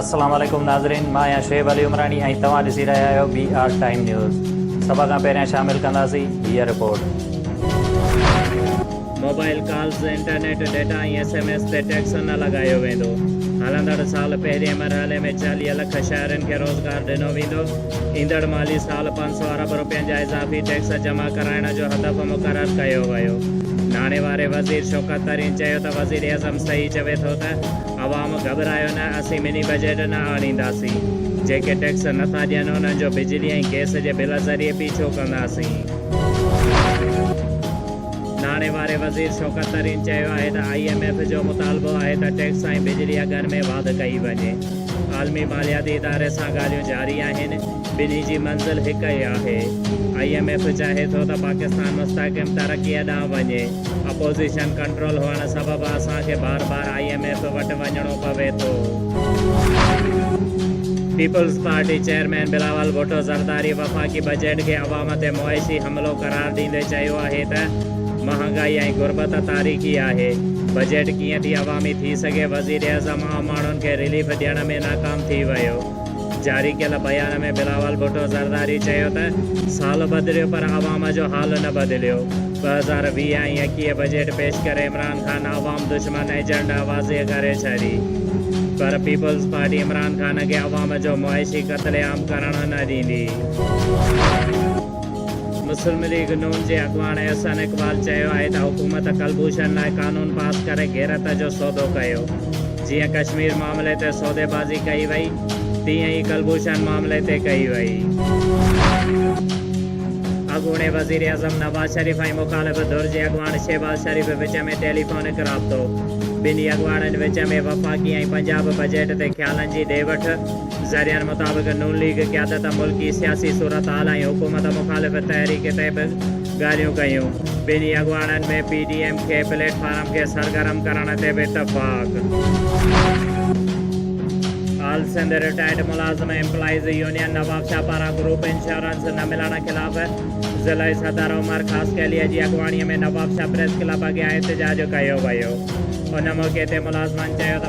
السلام عليڪم ناظرين مان آهيان شعيب علي عمراڻي ۽ توهان ڏسي رهيا آهيو بي آر ٽائيم نيوز سڀ کان پهريان شامل ڪنداسين هيء report. Mobile calls, internet data ۽ SMS تي ٽيڪس نه لڳايو ويندو، هلندڙ سال پهرين مرحلي ۾ چاليهه لک شهرين کي روزگار ڏنو ويندو، ايندڙ مالي سال سؤ ارب رپين جا اضافي ٽيڪس جمع ڪرائڻ جو هدف مقرر ڪيو ويو. ناڻي واري وزير شوڪت ترين چيو ته وزيراعظم صحيح چوي ٿو ته عوام گهٻرايو نه اسين مني بجيٽ نه آڻينداسين، جيڪي ٽيڪس نٿا ڏين انهن جو بجلي ۽ گئس جي بل ذريعي پيڇو ڪنداسين. ناڻي واري وزير شوڪت ترين چيو آهي ته آئي ايم ايف جو مطالبو آهي ته ٽيڪس ۽ بجلي اگهن ۾ واڌ ڪئي وڃي. عالمي مالياتي اداري سان ڳالهيون جاري آهن. ٻنهي جي منزل هڪ ئي آهي، آئي ايم ايف چاهي ٿو ته پاڪستان مستحڪم ترقيء ڏانهن وڃي، اپوزيشن ڪنٽرول هئڻ سبب اسان کي بار بار آئي ايم ايف وٽ وڃڻو پوي ٿو. پيپلز پارٽي چيئرمين بلاول ڀٽو زرداري وفاقي بجيٽ کي عوام تي معاشي حملو قرار ڏيندي چيو آهي ته مهانگائي ۽ غربت تاريخي آهي، بجيٽ ڪيئن ٿي عوامي ٿي سگهي، وزيراعظم عام ماڻهن کي رليف ڏيڻ ۾ ناڪام ٿي ويو. جاري ڪيل بيان ۾ بلاول ڀٽو زرداري چيو ته سال بدليو پر عوام جو حال نه بدليو، ٻه هزار ويهه ۽ ايڪيهه بجيٽ پيش ڪري عمران خان عوام دشمن ايجنڊا واضح ڪري ڇڏي پر پيپلز پارٽي عمران خان کي عوام جو معاشي قتل عام ڪرڻ نه ڏيندي. مسلم ليگ ن جي اڳواڻ احسن اقبال چيو آهي ته حڪومت ڪلڀوشن لاء قانون پاس ڪري غيرت جو سودو ڪيو، جيئن ڪشمير معاملي تي سوديبازي ڪئي وئي، تيئن ئي ڪلڀوشن معاملي تي ڪئي وئي. اڳوڻي وزيراعظم نواز شريف ۽ مخالف ڌر جي اڳواڻ شهباز شريف وچ ۾ ٽيليفونڪ رابطو، ٻنهي اڳواڻن وچ ۾ وفاقي ۽ پنجاب بجيٽ تي خيالن جي ڏي وٺ، ذريعن مطابق نون ليگ قيادت ملڪي سياسي صورتحال ۽ حڪومت مخالف تحريڪ تي به ڳالهيون ڪيون، ٻنهي اڳواڻن ۾ پي ڊي ايم ڪي پليٽ فارم کي سرگرم ڪرڻ تي به اتفاق. آل سنڌ رٽائرڊ ملازم ايمپلائيز يونين نوابشاهه پاران گروپ انشورنس نه ملڻ خلاف ضلعي صدر عمر خاصخيليء جي اڳواڻيء ۾ نوابشاهه پريس ڪلب اڳيان احتجاج ڪيو ويو، ان موقعي تي ملازمن چيو ته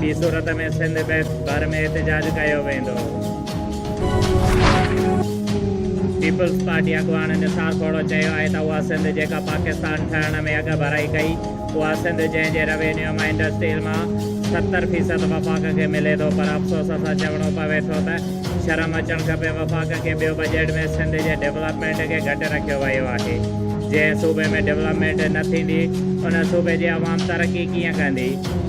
ٻي صورت ۾ سنڌ بيس ڀر ۾ احتجاج ڪيو ويندو. پيپلز پارٽي اڳواڻ نثار کوڙو چيو آهي ته اها سنڌ جيڪا پاڪستان ٺهڻ ۾ اڳڀرائي ڪئي اها سنڌ جنهن جي روينيو مان انڊسٽريل مان ستر فيصد وفاق کي ملي ٿو پر افسوس سان چوڻو پوي ٿو ته شرم اچڻ کپي وفاق کي ٻيو بجيٽ ۾ سنڌ جي ڊولپمينٽ کي گهٽ رکيو ويو آهي جنهن صوبي ۾ ڊولپمينٽ نه ٿيندي ان صوبي جي عوام ترقي ڪيئن ڪندي.